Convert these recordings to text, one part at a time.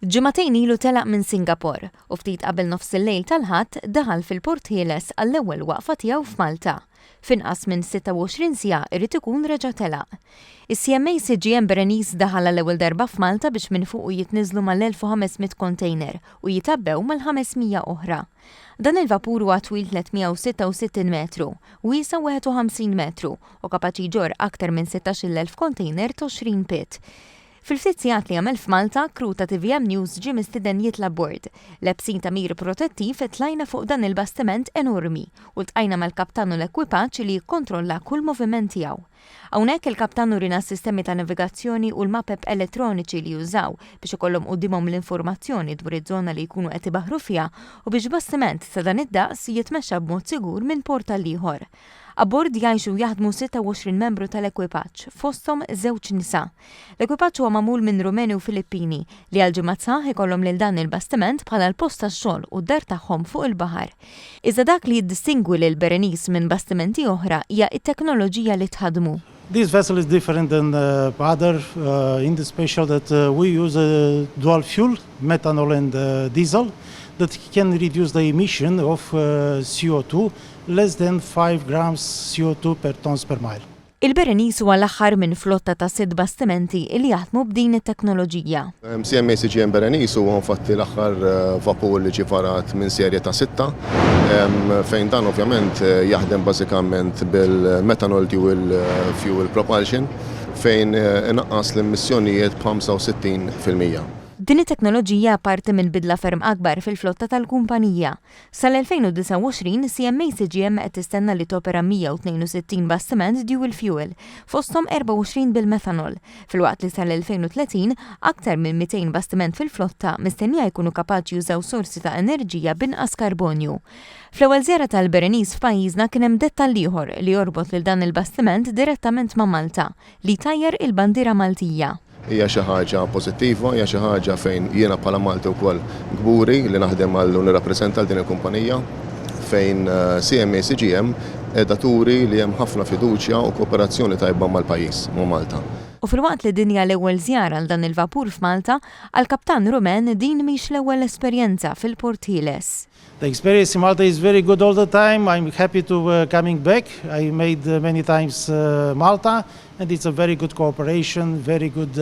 Ġimagħtejn ilu telaq minn Singapor u ftit qabel nofsillejl tal-Ħadd daħal fil-Port Ħieles għall-ewwel waqfa tiegħu f'Malta. F'inqas minn 26 siegħa irid ikun reġa' telaq. Is-CMA CGM Berenice daħal għall-ewwel darba f'Malta biex minn fuqu jitniżżlu mal-1,500 kontejner u jitgħabbew mal-500 oħra. Dan il-vapur huwa twil 366 metru, wiesa' 51 metru u kapaċi jġorr aktar minn 16,000 kontejner t'għoxrin pit. Fil-ftit sigħat li għamel f'Malta, crew ta' tvm News ġie mistieden jitla' abbord. Lebsin tagħmir protettiv, tlajna fuq dan il-bastiment enormi u ltqajna mal-kaptan u l-ekwipaġġ li jikkontrolla kull moviment tiegħu. Hawnhekk il-kaptan urina s-sistemi ta' navigazzjoni u l-mapep elettroniċi li jużaw biex ikollhom quddiemhom l-informazzjoni dwar iż-żona li jkunu qed ibaħħru fiha u biex bastiment ta' dan id-daqs jitmexxa b'mod sigur minn port għall-ieħor. Abbord jgħixu u jaħdmu 26 membru tal-ekwipaġġ, fosthom żewġ nisa. L-ekwipaġġ huwa magħmul minn Rumeni u Filippini, li għal ġimgħat sħaħ ikollhom lil dan il-bastiment bħala l-post tax-xogħol u d-dar tagħhom fuq il-baħar. Iżda dak li jiddistingwi lill-Berenice minn bastimenti oħra hija t-teknoloġija li tħaddmu. This vessel is different than other in the special that we use a dual fuel, methanol and diesel, that can reduce the emission of CO2 less than 5 grams CO2 per tons per mile. Il-Berenice huwa l-aħħar minn flotta ta' sitt bastimenti li jaħdmu b'din it-teknoloġija. CMA CGM Berenice huwa infatti l-aħħar vapur li ġie varat minn serje ta' sitta, fejn dan ovvjament jaħdem bażikament bil-methanol dual fuel propulsion, fejn inaqqas l-emissjonijiet b'65%. Din it-teknoloġija parti minn bidla ferm akbar fil-flotta tal-kumpanija. Sal-2029, CMA CGM qed tistenna li topera 162 bastiment dual fuel, fosthom 24 bil-methanol, filwaqt li sal-2030, aktar minn 200 bastiment fil-flotta mistennija jkunu kapaċi jużaw sorsi ta' enerġija b'inqas karbonju. Fl-ewwel żjara tal-Berenice f'pajjiżna kien hemm dettall ieħor li jorbot lil dan il-bastiment direttament ma' Malta, li jtajjar il-bandiera Maltija. Hija xi ħaġa pożittiva, hija xi ħaġa fejn jiena bħala Malti wkoll kburi li naħdem għal u nirrappreżenta lil din il-kumpanija fejn CMA CGM qiegħda turi li hemm ħafna fiduċja u kooperazzjoni tajba mal-pajjiż, ma' Malta. U filwaqt li din hija l-ewwel żjara għal dan il-vapur f'Malta, għall-kaptan Rumen din mhix l-ewwel esperjenza fil-Port Ħieles. The experience in Malta is very good all the time, I am happy to coming back, I made many times Malta and it's a very good cooperation, very good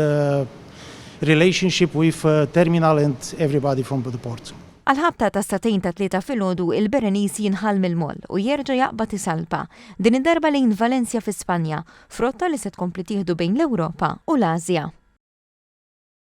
relationship with terminal and everybody from the port. Għall-ħabta ta' satejn ta' Tlieta filgħodu il-Berenice jinħall mill-moll u jerġa' jaqbad isalpa, din id-darba lejn Valencia fi Spanja, f'rotta li se tkompli tieħdu bejn l-Ewropa u l-Ażja.